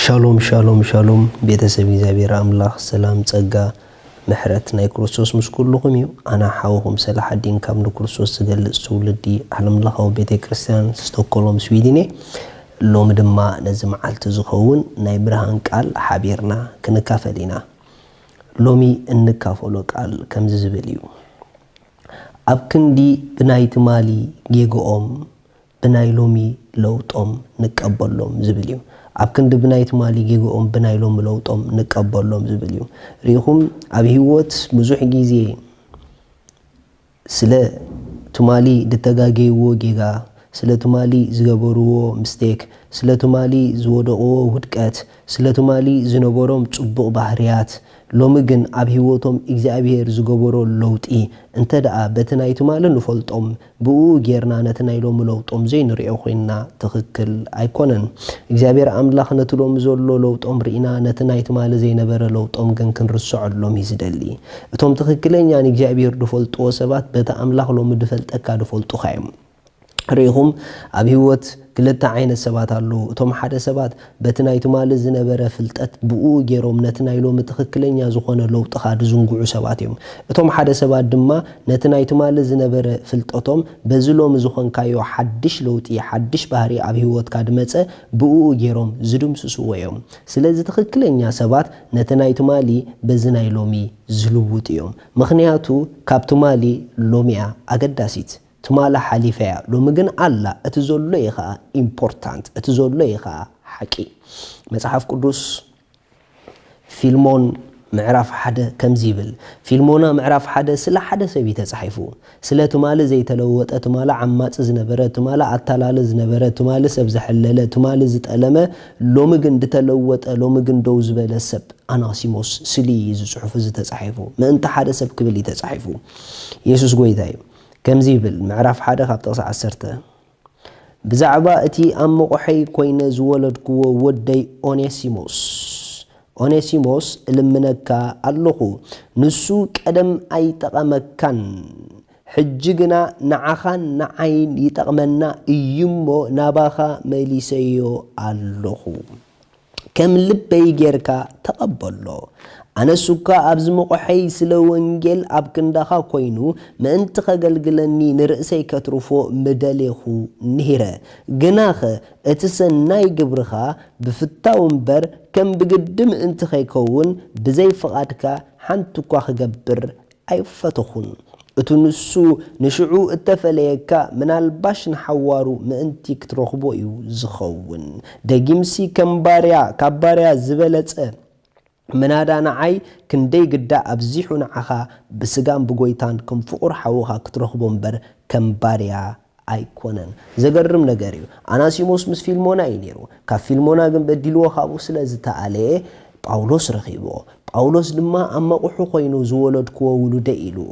ሻሎም ሻሎም ሻሎም ቤተሰብ እግዚኣብሔር ኣምላኽ ሰላም ጸጋ ምሕረት ናይ ክርስቶስ ምስ ኩልኹም እዩ ኣና ሓውኹም ሰላሓዲን ካብ ንክርስቶስ ዝገልጽ ትውልዲ ዓለምለኻዊ ቤተ ክርስቲያን ስቶኮሎም ስዊድን እየ ሎሚ ድማ ነዚ መዓልቲ ዝኸውን ናይ ብርሃን ቃል ሓቢርና ክንካፈል ኢና ሎሚ እንካፈሎ ቃል ከምዚ ዝብል እዩ ኣብ ክንዲ ብናይ ትማሊ ጌግኦም ብናይ ሎሚ ለውጦም ንቀበሎም ዝብል እዩ። ኣብ ክንዲ ብናይ ትማሊ ጌግኦም ብናይ ሎሚ ለውጦም ንቀበሎም ዝብል እዩ። ርኢኹም ኣብ ሂወት ብዙሕ ግዜ ስለ ትማሊ ድተጋገይዎ ጌጋ፣ ስለ ትማሊ ዝገበርዎ ምስተክ፣ ስለ ትማሊ ዝወደቕዎ ውድቀት፣ ስለ ትማሊ ዝነበሮም ጽቡቕ ባህርያት፣ ሎሚ ግን ኣብ ሂወቶም እግዚኣብሄር ዝገበሮ ለውጢ እንተደኣ በቲ ናይ ትማሊ ንፈልጦም ብእኡ ጌርና ነቲ ናይ ሎሚ ለውጦም ዘይንሪኦ ኮይንና ትኽክል ኣይኮነን። እግዚኣብሔር ኣምላኽ ነቲ ሎሚ ዘሎ ለውጦም ሪእና ነቲ ናይ ትማሊ ዘይነበረ ለውጦም ግን ክንርሰዐሎም እዩ ዝደሊ። እቶም ትኽክለኛ ንእግዚኣብሔር ድፈልጥዎ ሰባት በቲ ኣምላኽ ሎሚ ድፈልጠካ ድፈልጡኻ እዮም። ሪኢኹም ኣብ ህይወት ክልተ ዓይነት ሰባት ኣለዉ። እቶም ሓደ ሰባት በቲ ናይ ትማሊ ዝነበረ ፍልጠት ብኡኡ ጌሮም ነቲ ናይ ሎሚ ትኽክለኛ ዝኾነ ለውጥኻ ድዝንግዑ ሰባት እዮም። እቶም ሓደ ሰባት ድማ ነቲ ናይ ትማሊ ዝነበረ ፍልጠቶም በዚ ሎሚ ዝኾንካዮ ሓድሽ ለውጢ ሓድሽ ባህሪ ኣብ ህይወትካ ድመጸ ብኡኡ ጌሮም ዝድምስስዎ እዮም። ስለዚ ትኽክለኛ ሰባት ነቲ ናይ ትማሊ በዚ ናይ ሎሚ ዝልውጡ እዮም። ምኽንያቱ ካብ ትማሊ ሎሚ'ያ ኣገዳሲት። ትማል ሓሊፈያ ሎሚ ግን ኣላ እቲ ዘሎ እዩ ከኣ ኢምፖርታንት እቲ ዘሎ እዩ ከኣ ሓቂ መጽሓፍ ቅዱስ ፊልሞን ምዕራፍ ሓደ ከምዚ ይብል ፊልሞና ምዕራፍ ሓደ ስለ ሓደ ሰብ እዩ ተጻሒፉ ስለ ትማሊ ዘይተለወጠ ትማሊ ዓማጺ ዝነበረ ትማሊ ኣታላሊ ዝነበረ ትማሊ ሰብ ዘሐለለ ትማሊ ዝጠለመ ሎሚ ግን ድተለወጠ ሎሚ ግን ደው ዝበለ ሰብ ኣናሲሞስ ስሊ እዩ እዚ ጽሑፍ እዚ ተጻሒፉ ምእንቲ ሓደ ሰብ ክብል እዩ ተጻሒፉ የሱስ ጎይታ እዩ ከምዚ ይብል፣ ምዕራፍ ሓደ ካብ ጥቕሲ ዓሰርተ፣ ብዛዕባ እቲ ኣብ መቝሐይ ኮይነ ዝወለድክዎ ወደይ ኦኔሲሞስ፣ ኦኔሲሞስ እልምነካ ኣሎኹ፣ ንሱ ቀደም ኣይጠቐመካን፣ ሕጂ ግና ንዓኻን ንዓይን ይጠቕመና እዩ እሞ ናባኻ መሊሰዮ ኣሎኹ። ከም ልበይ ጌርካ ተቐበሎ። ኣነስ እኳ ኣብዚ መቑሐይ ስለ ወንጌል ኣብ ክንዳኻ ኮይኑ ምእንቲ ከገልግለኒ ንርእሰይ ከትርፎ ምደሌኹ ነይረ። ግናኸ እቲ ሰናይ ግብርኻ ብፍታው እምበር ከም ብግዲ ምእንቲ ከይከውን ብዘይ ፍቓድካ ሓንቲ እኳ ክገብር ኣይፈተኹን እቱ ንሱ ንሽዑ እተፈለየካ ምናልባሽ ንሓዋሩ ምእንቲ ክትረኽቦ እዩ ዝኸውን ደጊምሲ ከም ባርያ ካብ ባርያ ዝበለጸ ምናዳ ንዓይ ክንደይ ግዳ ኣብዚሑ ንዓኻ ብስጋን ብጎይታን ከም ፍቑር ሓውኻ ክትረኽቦ እምበር ከም ባርያ ኣይኮነን ዘገርም ነገር እዩ ኣናሲሞስ ምስ ፊልሞና እዩ ነይሩ ካብ ፊልሞና ግን በዲልዎ ካብኡ ስለ ዝተኣለየ ጳውሎስ ረኺብዎ ጳውሎስ ድማ ኣብ መቑሑ ኮይኑ ዝወለድክዎ ውሉደይ ኢልዎ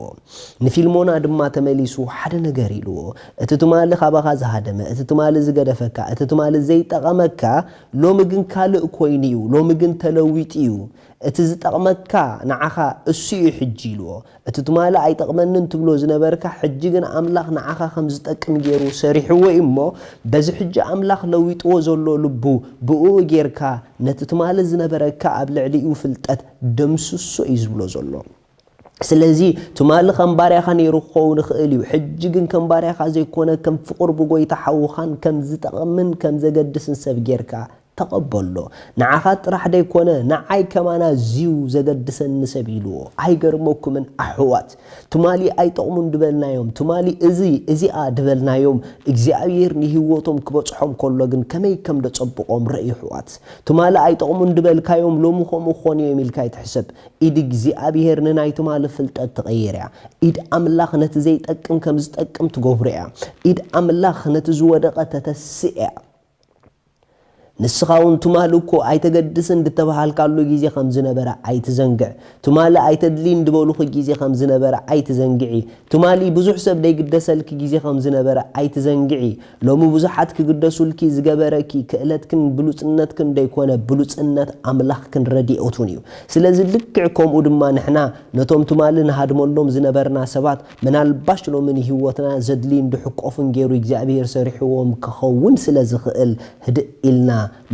ንፊልሞና ድማ ተመሊሱ ሓደ ነገር ኢልዎ እቲ ትማሊ ካባኻ ዝሃደመ እቲ ትማሊ ዝገደፈካ እቲ ትማሊ ዘይጠቐመካ ሎሚ ግን ካልእ ኮይኑ እዩ ሎሚ ግን ተለዊጡ እዩ እቲ ዝጠቕመካ ንዓኻ እሱ'ዩ ሕጂ ኢልዎ። እቲ ትማሊ ኣይጠቕመንን ትብሎ ዝነበርካ ሕጂ ግን ኣምላኽ ንዓኻ ከም ዝጠቅም ጌሩ ሰሪሕዎ'ዩ እሞ በዚ ሕጂ ኣምላኽ ለዊጥዎ ዘሎ ልቡ ብእኡ ጌርካ ነቲ ትማሊ ዝነበረካ ኣብ ልዕሊኡ ፍልጠት ደምስሶ'ዩ ዝብሎ ዘሎ። ስለዚ ትማሊ ከም ባርያኻ ነይሩ ክኸውን ይኽእል እዩ፣ ሕጂ ግን ከም ባርያኻ ዘይኰነ፣ ከም ፍቑር ብጐይታ ሓውኻን ከም ዝጠቕምን ከም ዘገድስን ሰብ ጌርካ ተቐበሎ። ንዓኻ ጥራሕ ዘይኰነ፣ ንዓይ ከማን ኣዝዩ ዘገድሰኒ ሰብ ኢልዎ። ኣይገርመኩምን ኣሕዋት? ትማሊ ኣይጠቕሙን ድበልናዮም፣ ትማሊ እዚ፣ እዚኣ ድበልናዮም፣ እግዚኣብሄር ንህይወቶም ክበጽሖም ከሎ ግን ከመይ ከም ደጸብቖም ርኣዩ ኣሕዋት። ትማሊ ኣይጠቕሙን ድበልካዮም ሎሚ ከምኡ ክዀኑ እዮም ኢልካ ኣይትሕሰብ። ኢድ እግዚኣብሄር ንናይ ትማሊ ፍልጠት ትቐይር እያ። ኢድ ኣምላኽ ነቲ ዘይጠቅም ከም ዝጠቅም ትገብሮ እያ። ኢድ ኣምላኽ ነቲ ዝወደቐ ተተስእ እያ። ንስኻውን ትማሊ እኮ ኣይተገድስን ድተበሃልካሉ ግዜ ከም ዝነበረ ኣይትዘንግዕ። ትማሊ ኣይተድልይን ድበሉኺ ግዜ ከም ዝነበረ ኣይትዘንግዒ። ትማሊ ብዙሕ ሰብ ደይግደሰልኪ ግዜ ከም ዝነበረ ኣይትዘንግዒ። ሎሚ ብዙሓት ክግደሱልኪ ዝገበረኪ ክእለትክን ብሉጽነትክን ደይኮነ ብሉጽነት ኣምላኽክን ረዲኦቱን እዩ። ስለዚ ልክዕ ከምኡ ድማ ንሕና ነቶም ትማሊ ንሃድመሎም ዝነበርና ሰባት ምናልባሽ ሎሚ ንህይወትና ዘድልዩን ድሕቆፍን ገይሩ እግዚኣብሄር ሰሪሕዎም ክኸውን ስለ ዝኽእል ህድእ ኢልና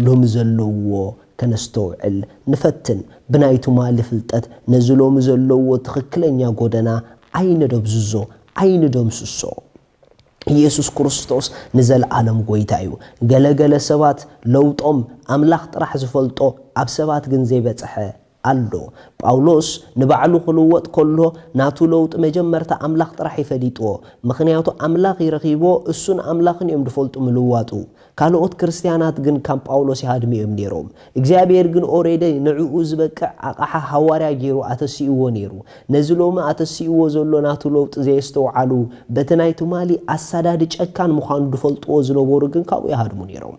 ሎሚ ዘለውዎ ከነስተውዕል ንፈትን ብናይ ትማሊ ፍልጠት ነዚ ሎሚ ዘለውዎ ትኽክለኛ ጎደና ኣይነደብዝዞ ኣይንደምስሶ። ኢየሱስ ክርስቶስ ንዘለኣለም ጐይታ እዩ። ገለ ገለ ሰባት ለውጦም ኣምላኽ ጥራሕ ዝፈልጦ ኣብ ሰባት ግን ዘይበጸሐ ኣሎ። ጳውሎስ ንባዕሉ ክልወጥ ከሎ ናቱ ለውጢ መጀመርታ ኣምላኽ ጥራሕ እዩ ፈሊጥዎ። ምኽንያቱ ኣምላኽ እዩ ረኺብዎ እሱን ኣምላኽን እዮም ድፈልጡ ምልዋጡ። ካልኦት ክርስትያናት ግን ከም ጳውሎስ ይሃድሙ እዮም ነይሮም። እግዚኣብሄር ግን ኦሬዲ ንዕኡ ዝበቅዕ ኣቕሓ ሃዋርያ ገይሩ ኣተሲእዎ ነይሩ። ነዚ ሎሚ ኣተሲእዎ ዘሎ ናቱ ለውጢ ዘየስተውዓሉ በቲ ናይ ትማሊ ኣሳዳዲ ጨካን ምዃኑ ድፈልጥዎ ዝነበሩ ግን ካብኡ ይሃድሙ ነይሮም።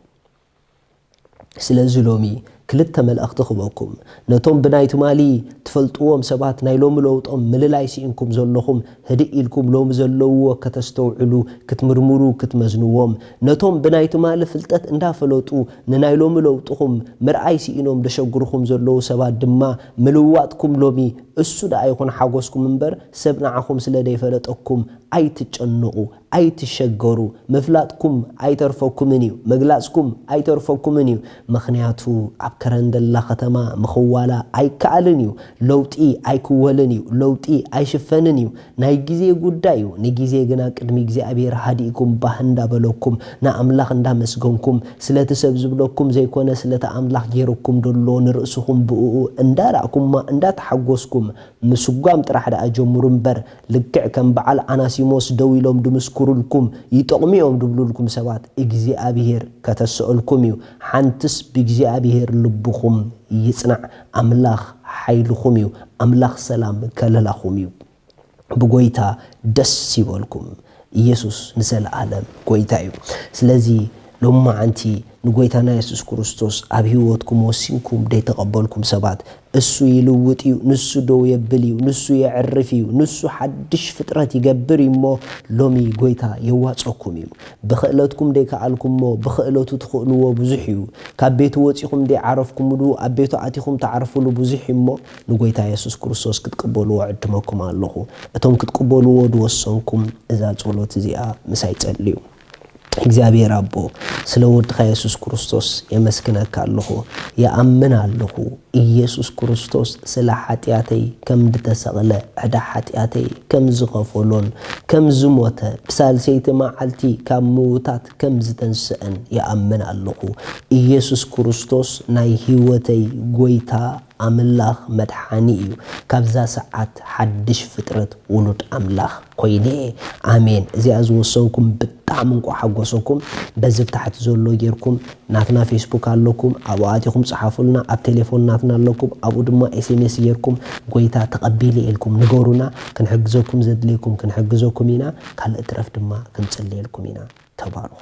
ስለዚ ሎሚ ክልተ መልእኽቲ ክበኩም ነቶም ብናይ ትማሊ ትፈልጥዎም ሰባት ናይ ሎሚ ለውጦም ምልላይ ሲኢንኩም ዘለኹም ህድእ ኢልኩም ሎሚ ዘለውዎ ከተስተውዕሉ ክትምርምሩ ክትመዝንዎም ነቶም ብናይ ትማሊ ፍልጠት እንዳፈለጡ ንናይ ሎሚ ለውጥኹም ምርኣይ ሲኢኖም ደሸግርኹም ዘለዉ ሰባት ድማ ምልዋጥኩም ሎሚ እሱ ደኣ ይኹን ሓጎስኩም እምበር ሰብ ንዓኹም ስለ ደይፈለጠኩም ኣይትጨነቁ ኣይትሸገሩ ምፍላጥኩም ኣይተርፈኩምን እዩ ምግላጽኩም ኣይተርፈኩምን እዩ ምኽንያቱ ኣብ ከረንደላ ከተማ ምኽዋላ ኣይከኣልን እዩ ለውጢ ኣይክወልን እዩ ለውጢ ኣይሽፈንን እዩ ናይ ግዜ ጉዳይ እዩ ንግዜ ግና ቅድሚ እግዚኣብሔር ሃዲእኩም ባህ እንዳበለኩም ንኣምላኽ እንዳመስገንኩም ስለቲ ሰብ ዝብለኩም ዘይኮነ ስለቲ ኣምላኽ ጌሩኩም ደሎ ንርእስኹም ብእኡ እንዳራእኩማ እንዳተሓጎስኩም ምስጓም ጥራሕ ደኣ ጀምሩ እምበር ልክዕ ከም በዓል ኣናሲሞስ ደው ኢሎም ድምስኩሩልኩም ይጠቕሙ እዮም ድብሉልኩም ሰባት እግዚኣብሄር ከተሰኦልኩም እዩ ሓንትስ ብእግዚኣብሄር ልብኹም ይጽናዕ ኣምላኽ ሓይልኹም እዩ ኣምላኽ ሰላም ከለላኹም እዩ ብጎይታ ደስ ይበልኩም። ኢየሱስ ንዘለዓለም ጎይታ እዩ። ስለዚ ሎምመዓንቲ ንጎይታና የሱስ ክርስቶስ ኣብ ሕይወትኩም ወሲንኩም ደይተቐበልኩም ሰባት እሱ ይልውጥ እዩ፣ ንሱ ደው የብል እዩ፣ ንሱ የዕርፍ እዩ፣ ንሱ ሓድሽ ፍጥረት ይገብር እዩ እሞ ሎሚ ጎይታ የዋጸኩም እዩ። ብኽእለትኩም ደይከኣልኩሞ ብኽእለቱ ትኽእልዎ ብዙሕ እዩ። ካብ ቤቱ ወጺኹም ደይዓረፍኩምሉ ኣብ ቤቱ ኣቲኹም ትዓርፍሉ ብዙሕ እዩ እሞ ንጐይታ የሱስ ክርስቶስ ክትቅበልዎ እዕድመኩም ኣሎኹ። እቶም ክትቅበልዎ ዝወሰንኩም እዛ ጸሎት እዚኣ ምሳይ ጸልዩ። እግዚኣብሄር ኣቦ፣ ስለ ወድኻ የሱስ ክርስቶስ የመስግነካ ኣሎኹ። ይኣምን ኣሎኹ ኢየሱስ ክርስቶስ ስለ ሓጢኣተይ ከም ድተሰቕለ፣ ዕዳ ሓጢኣተይ ከም ዝኸፈሎን ከም ዝሞተ ብሳልሰይቲ መዓልቲ ካብ ምዉታት ከም ዝተንስእን ይኣምን ኣሎኹ። ኢየሱስ ክርስቶስ ናይ ህይወተይ ጐይታ ኣምላኽ መድሓኒ እዩ ካብዛ ሰዓት ሓድሽ ፍጥረት ውሉድ ኣምላኽ ኮይነ እየ ኣሜን እዚኣ ዝወሰንኩም ብጣዕሚ እንቋዕ ሓጎሰኩም በዚ ብ ታሕቲ ዘሎ ጌርኩም ናትና ፌስቡክ ኣለኩም ኣብኡ ኣቲኹም ጽሓፉልና ኣብ ቴሌፎን ናትና ኣለኩም ኣብኡ ድማ ኤስኤምኤስ ጌርኩም ጎይታ ተቐቢለ እየ ኢልኩም ንገሩና ክንሕግዘኩም ዘድልየኩም ክንሕግዘኩም ኢና ካልእ ትረፍ ድማ ክንጽልየልኩም ኢና ተባረኹ።